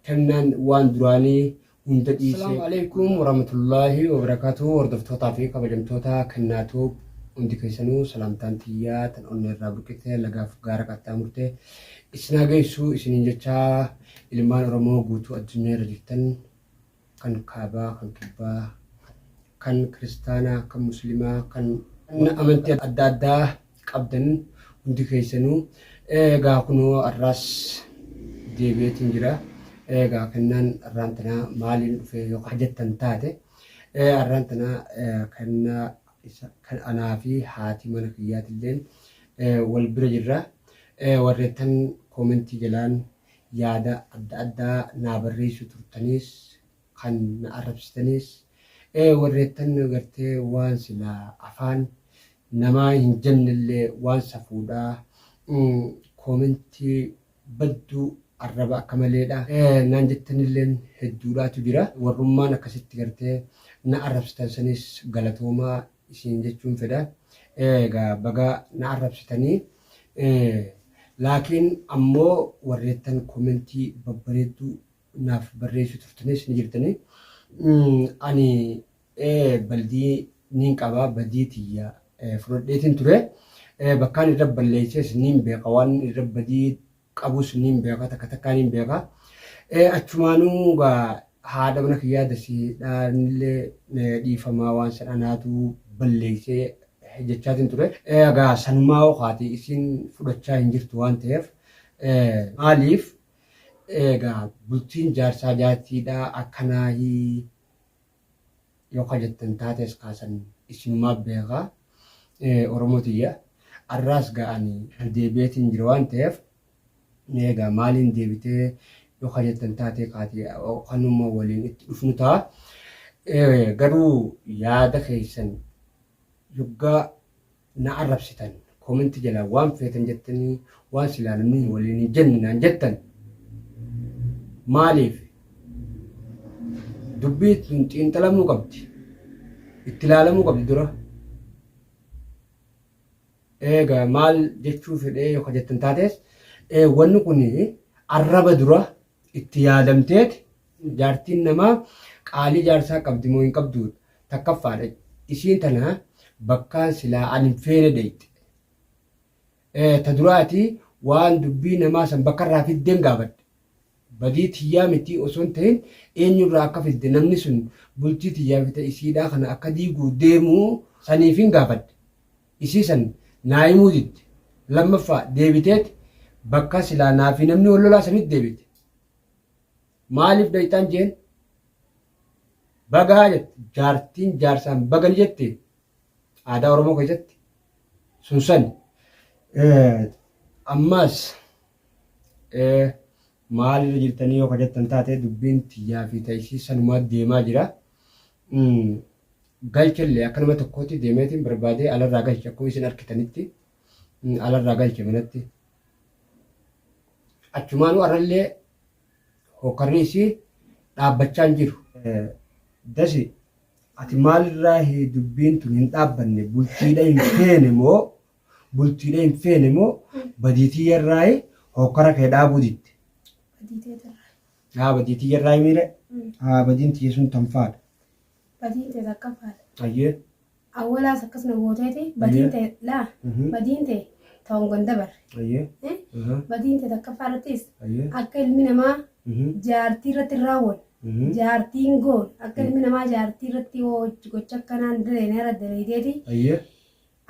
kennaan waan duraanii hunda dhiisee. Assalaamu Aleykum Warahmatullaahi Wabarakaatuh Hordoftootaa fi kabajamtoota kennaa tuub hundi keessanuu salaamtaan tiyyaa tan onnee irraa burqite lagaaf gaara qaxxaamurte isin haa geessu isiniin jechaa ilmaan Oromoo guutuu addunyaa irra jirtan kan kaabaa, kan kibbaa, kan kiristaanaa, kan muslimaa, kan amantii adda addaa qabdan hundi keessanuu eegaa kunoo har'aas deebi'eetiin jira. Eegaa kennaan har'aan tanaa maaliin dhufee yoo hajattan taate har'aan tanaa kennaa kan anaa fi haati mana kiyyaatilleen wal bira jirra. Warreettan koomentii jalaan Yaada adda addaa naa barreessu turtanis kan na arrabsitanis warreettan gartee waan silaa afaan namaa hin jennellee waan safuudha koomentii badduu arraba akka maleedha naan jettanilleen hedduudhaatu jira warrummaan akkasitti gartee na arrabsitan sanis galatoomaa isiin jechuun fedha. Egaa baga na arrabsitanii. Laakiin ammoo warreettan komentii babbareedduu naaf barreessuu turtanis ni jirtani. Ani baldii niin qaba badii tiyya fudhadheetiin ture. Bakkaan irra balleessees niin beeka waan irra badii qabus niin beeka takka takkaa niin beeka. Ee achumaanuu gaa haadha mana kiyyaa dasii dhaanillee eh, dhiifamaa waan san anaatu balleessee eh, jechaatiin ture. Eh, Egaa sanumaa hoo kaatee isiin fudhachaa hin jirtu waan ta'eef eh, maaliif egaa bultiin jaarsaa jaartiidhaa akkanaahi Yoo ka jettan taates kaa san isinumaa beeka. Oromoo tiyya arraas gaa ani dedeebi'eetiin jira waan ta'eef mee egaa maaliin deebitee yoo ka jettan taatee kaati kanuma waliin itti dhufnu ta'a. Garuu yaada keessan yoggaa na arrabsitan comment jalaa waan feetan jettanii waan silaa namni hin waliin hin jenne naan jettan maaliif dubbii tun xiinxalamuu qabdi itti ilaalamuu qabdi dura eega maal jechuu fedhee yoo jettan taates wanni kun arraba dura itti yaadamteeti jaartiin namaa qaalii jaarsaa qabdi moo hin qabdu takkaffaadha isiin tana bakkaan silaa an hin feene dheyxe Eh, ta duraati waan dubbii namaa san bakkarraa fiddeen gaafadhe badii tiyyaa miti osoo hin ta'in eenyurraa akka fidde namni sun bultii tiyyaa fita isiidhaa kana akka diiguu deemuu saniifin gaafadhe isii san naa himuu didde lammaffaa deebiteet bakka silaa naa fi namni wal lolaa sanitti deebite maaliif dhayxaan jeen bagaa jette jaartiin jaarsaan baga ni jette aadaa oromoo keessatti sun sani Eh, ammaas Ee, maalirra jirtanii yoo ka jettan taate dubbiin tiyyaa fi ta'isii sanumaa deemaa jira. Mm, Galchellee akka nama tokkootti deemeetiin barbaadee alarraa galche akkuma isin arkitanitti mm, alarraa galche manatti. Achumaanuu arrallee hokkarri isii dhaabbachaa hin jiru. Eh, Dasi, ati maalirraa hi- dubbiin tun hin dhaabbanne bultiidha hin feene moo Bultiidha hin feene moo badii tiyya irraayi hokkara kee dhaabuu didde. Badii tee tarraa. Yaa badii tiyya irraayi miire haa badiin tiyya sun tan faadha. Badiin tee takka faadha. Ayyee. Awwalaas akkas na gooteeti badiin tee laa Mhm. badiin tee ta'uun ganda barre. Ayyee. Eh? Aha. Badiin tee takka faadhattis Ayyee. akka ilmi namaa Mhm. jaartii irratti hin raawwanne. Mhm. Jaartiin goon akka ilmi namaa jaartii irratti hojii gocha akkanaan daleenera daleedeeti Ayyee.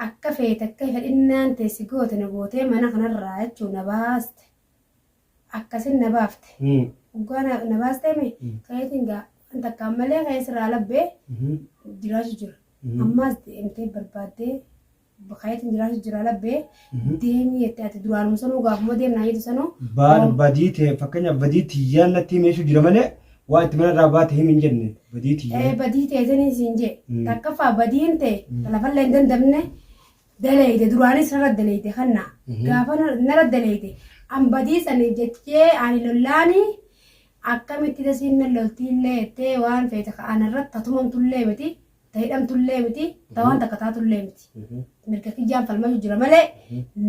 Akka feete akka fedhinnaan tee si goote na gootee mana kanarraa jechuun na baaste. Akkasin na baafte. Hoggaa na na baastee mee ka'eetiin gaa waan takkaan malee ka'ee sirraa labbee jiraachu jira. Ammaas deemtee barbaaddee ka'eetiin jiraachu jira labbee deemii jettee ati duraanuma sanuu gaafuma deemnaa jettu sanuu Baar badii tee fakkeenyaaf badii tiyyaan natti himee jechuu jira malee Waa itti mana irraa baate himi hin jenne badii tiyya. Ee badii teetanii siin jee. Mm. Takkaffaa badiin tee Mm. ta lafallee hin dandamne daleeyde duraanis narra daleeyde kanna. Mhm. Gaafa na- narra daleeyde an badii saniif jechee ani lollaani akkamitti dasiin nan loltiillee jettee waan feete ka anarratti tatumamtullee miti ta hidhamtullee miti ta waan takka taatullee miti mirga kiyyaan falmatu jira malee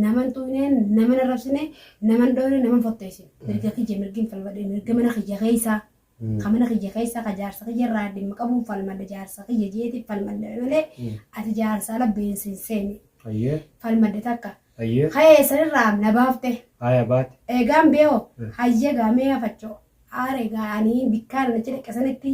naman tuqneen naman arrabsine naman dhoofne naman fotteessin mirga kiyya mirgin falmadhe mirga mana kiyya keessaa ka mana kiyya keessaa ka jaarsa kiyya irraa dhimma qabuun falmadhe jaarsa kiyya jeeti falmadhe malee ati jaarsa ala beensin seeni Ayyee. falmadhe takka Ayyee. ka'ee sanirraa na baafte Haaya baate. eegaan beeho hayya gaamee hafachoo aare gaa'anii bikkaan namicha dhiqasanitti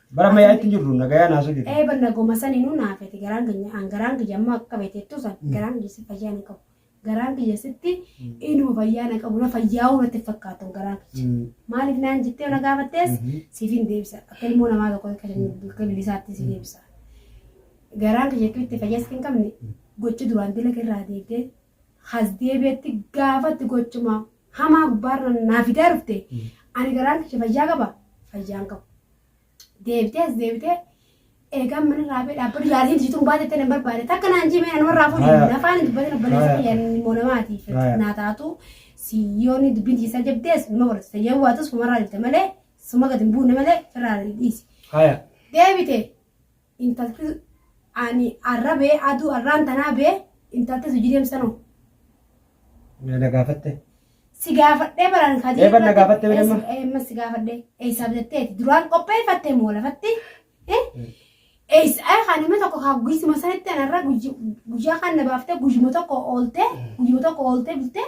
Bara ammayyaa itti jirru nagayaan haasuu jirru. Ee banna goma sani nu naa fete garaan kiyya an garaan kiyya amma akka fete tu san garaan kiyya si fayyaa na qabu. Garaan kiyya sitti inuma fayyaa na qabu na fayyaa'uu natti fakkaatu garaan kiyya. Mm. Maaliif naan jettee na gaafattees Mhm. siif hin deebisa. Akka ilmoo namaa tokko akka akka bilisaatti si deebisa. Garaan kiyya itti fayyaa sitti hin qabne gocha duraan dila irraa deebdee has deebi'etti gaafatti gochuma hamaa gubbaarra naa fidaa dhufte ani garaan kiyya fayyaa qaba fayyaan qabu. Deebitee as deebitee eegaan mana raabee dhaabbatu yaaliin siituun baate ta'e nan barbaade takka naan jimee nan warraa fuudhe Haya. nafaan hin dubbatin obboleessa Haya. kiyya inni immoo namaatiif Haya. naa taatu siyyoonni dubbiin isaa jabdees nama godhatu ta'ee waatus fumarraa dhufte malee suma gadi hin buune malee firraa dhiisi. Haya. Deebite intalti ani arra bee aduu arraan tanaa bee intalti sujii deemsanoo. Na gaafatte. Si gaafadhee baraan kadii. Eebba na gaafatte bee damma. Eemma si gaafadhee eessaa bitatteeti duraan qopheeffattee moo lafatti. Eessaa kan nama tokko kaa guyyuma sanitti anarra guyyaa kan na baaftee guyyuma tokko ooltee guyyuma tokko ooltee bultee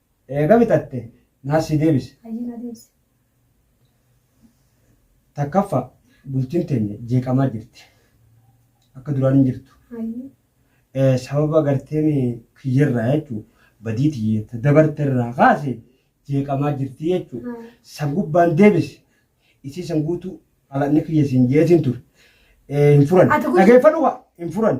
Eega bitatte naas sii deebisa. Hayyee naa deebisi. 1ffaa Bultiin teenya jeeqamaa jirti. Akka duraan hin jirtu. Hayyee. Sababa garteen kiyya irraa jechuun badii tiyya ta dabarte irraa kaase jeeqamaa jirti jechuun Haa. san gubbaan deebisi. Isii san guutuu xalaqni kiyya siin jeetiin ture. Hin furan. Ati kun- Dhageeffadhu kaa hin furan.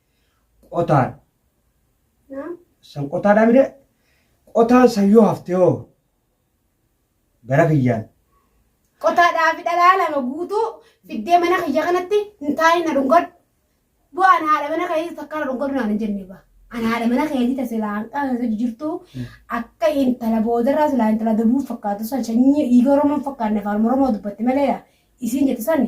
Qotaan. Naam. San qotaadhaa mire qotaan san yoo hafte hoo gara kiyyaan. Qotaadhaa fi dhalaa lama guutuu fiddee mana kiyya kanatti hin taa'in na dhungadhu. Bu'aan haadha mana keetii takka na dhungadhu naan hin jenne ba. An haadha mana keetii ta silaa hanqa keessa jirtu akka intala boodarraa silaa intala dabuu fakkaatu san sanyii dhiiga Oromoo hin fakkaanne afaan Oromoo dubbatti maleedha. Isiin jette sani.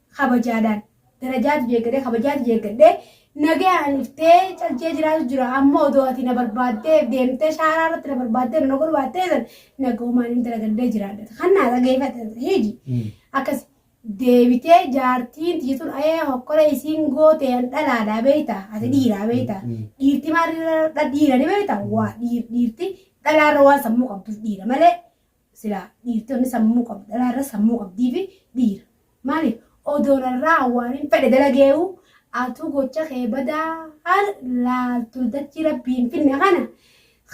kabajaadhaan darajaatu jeeggadhee kabajaatu jeeggadhee nagayaan dhuftee calchee jiraatu jira amma odoo ati na barbaaddee deemtee shaaraa irratti na barbaaddee na nagoo baattee san nagoomaan hin dalagadhee jiraadha kan naa dhageeffate hiji akkas deebitee jaartiin tiyya tun ayee hokkora isiin gootee an dhalaadhaa beeyta ati dhiiraa beeyta dhiirti maal dhiira ni beeyta waa dhiirti dhalaarra waan sammuu qabduuf dhiira malee Silaa dhiirtonni sammuu qabu dhalaa irra sammuu qabdii fi dhiira. Maaliif odoo narraa waan hin fedhe dalageewu atuu gocha kee badaa har laaltu dachii rabbii hin finne kana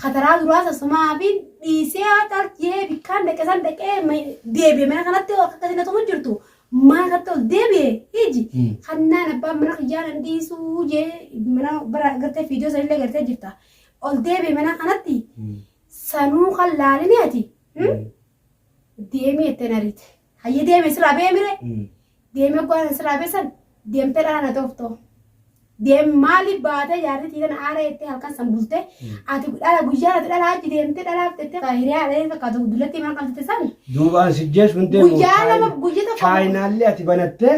kataraa duraa sasumaa fi dhiisee haa calchee bikkaan dhaqe san dhaqee ma- deebi'e mana kanatti yoo akka isin atumu jirtu mana kanatti ol deebi'e hiji Mm. kannaan abbaan mana kiyyaa nan dhiisuu jee mana bara gartee fiidiyoo sanillee gartee jirta ol deebi'e mana kanatti Sanuu kan laalini ati hmm? deemii jettee na riite. Hayyi deeme siraa bee mire deemee oggaan siraa bee san deemtee dhala na tooftoo. Deem maali baatee jaarri tiitan aara jettee halkan san bultee ati dhala guyyaa ati dhala achi deemtee dhalaaf jettee kan hiriyaa dhala fakkaatu dullatti mana qabsitte san Duubaan sijjees hundee guyyaa lama guyyaa tokko chaayinaallee ati banattee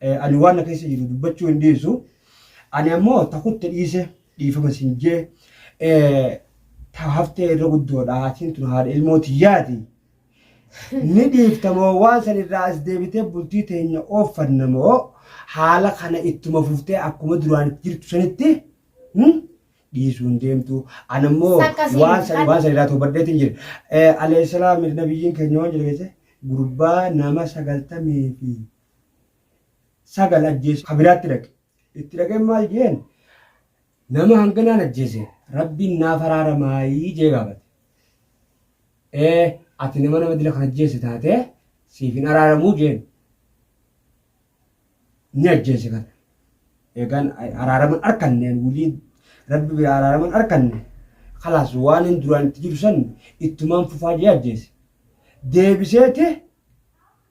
Eh, Ani waan na keessa jiru dubbachuu hin dhiisu. Ani ammoo ta kutte dhiise dhiifama sin jee eh, ta haftee irra guddoodha. Atiin tun haadha ilmoo tiyyaati. Ni dhiifta moo waan san irraa as deebitee bultii teenya ooffanna moo haala kana ittuma fuftee akkuma duraan itti jirtu sanitti hmm, dhiisuu hin deemtu. Ani ammoo Takka siin waan san kan- waan san irraa toobadheetiin jira. Eh, Alayhi salaam nabiyyiin keenya waan jedhe keessa gurbaa nama sagaltamii fi sagal ajjeesu ka biraatti dhaqe. Itti dhaqeen maal jeen nama hanganaan ajjeese rabbiin naaf araaramaayii jee gaafate. Ee ati nama nama dila kan ajjeese taatee siif hin araaramuu jeen. Ni ajjeese kana. Eegaan araaraman arkanneen wulii rabbi biraa araaraman arkanne. Kalaas waan hin duraan itti jiru san ittumaan fufaa jee ajjeese. Deebiseeti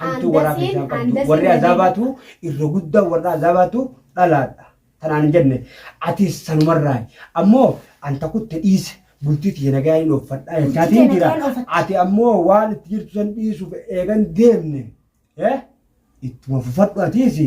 Hantuu warraa Handasiin, keessaa qabdu. handasiin Warri jedhee azaabaatu irra guddaa warra azaabaatu dhalaadha. Tanaan hin jenne atis sanumarraa ammoo anta kutte dhiise bultii tiyya nagaa hin ooffadhaa Bultii jechaatiin tiyya jira. nagaan oofatta. Ati ammoo waan itti jirtu san dhiisuuf eegan deemne. Eh? Ittuma fufadhu atiisi.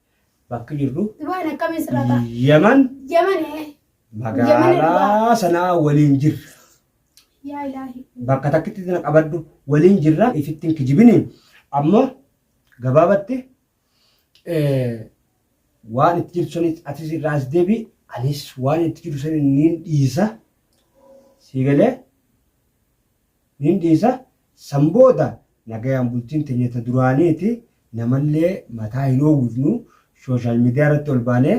bakki jirru Dubaay akkamiin sirraa ta'a? Yaman Yaman ee. magaalaa sanaa waliin jirra. Yaa ilaahi. Bakka takkitti na qabadhu waliin jirra ifittiin kijibini amma gabaabatti eh, waan itti jirtu sanis atis irraa as deebi anis waan itti jiru sanis niin dhiisa sii galee Nin dhiisa, san booda nagayaan bultiin teenya ta duraaniiti, namallee mataa hin oowwifnu, social media irratti ol baanee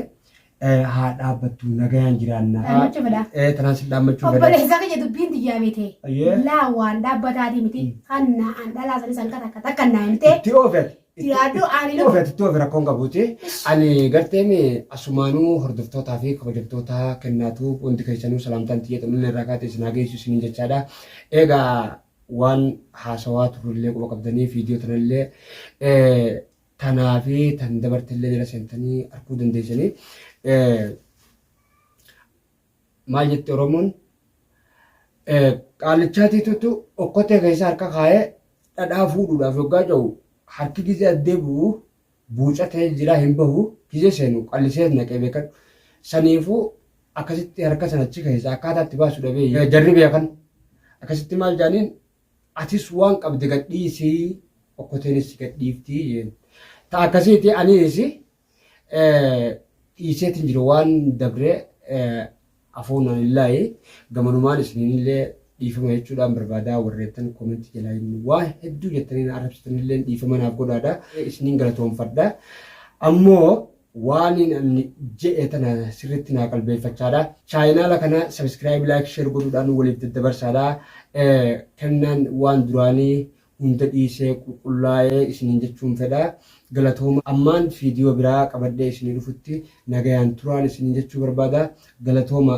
haa dhaabbattu, nagayaan jiraanna. Dhaammachuu fedha. Ee, tanaan sin dhaammachuu fedha. Obboleessa kiyya dubbiin tiyyaa beete. Ayyee. Laa waan dhaabbataatii miti, kan na'an dhalaa sanis hanqa takka takka na'an ta'e. Itti oofi ati. Itti yaaddu ani Itti ofi itti ofi rakkoon qabuuti. Ani garteen asumaanuu hordoftootaa fi kabajamtoota kennaatu hundi keessanuu salaamtaan xiyya xumminni irraa kaatee isin haa geessu isiniin jechaadha. Egaa waan haasawaa turrellee quba qabdanii viidiyoo tanallee tanaa fi tan dabartellee jala seentanii arguu dandeessanii. Maal jetti Oromoon? Qaallichaatiitutu okkotee keessa harka kaa'ee dhadhaa fuudhuudhaaf yoggaa ce'u harki gizee addee bu'u buucatee jiraa hin bahu gizee seenu qallisees naqee beekadhu. Saniifuu akkasitti harka sana achi keessa akkaataa itti baasu dhabee jarri beekan akkasitti maal jaaniin atis waan qabde gadhiisii okkoteenis gadhiiftii jeen. Ta akkasiiti aniisi dhiiseetiin jiru waan dabree afoonaan illaayi gamanumaan isinillee dhiifama jechuudhaan barbaadaa warreettan koomentii jalaa immoo waan hedduu jettanii na arrabsitanillee dhiifama naaf godhaadha isiniin galatoomfadha ammoo waaniin anni je'e tana sirriitti naa qalbeeffachaadha chaayinaala kana sabiskiraayib laayik sheer godhuudhaan waliif daddabarsaadha kennaan waan duraanii hunda dhiisee qulqullaa'e isiniin jechuun fedha. Galatooma ammaan viidiyoo biraa qabadhee isinii dhufutti nagayaan turaan isiniin jechuu barbaada. Galatooma!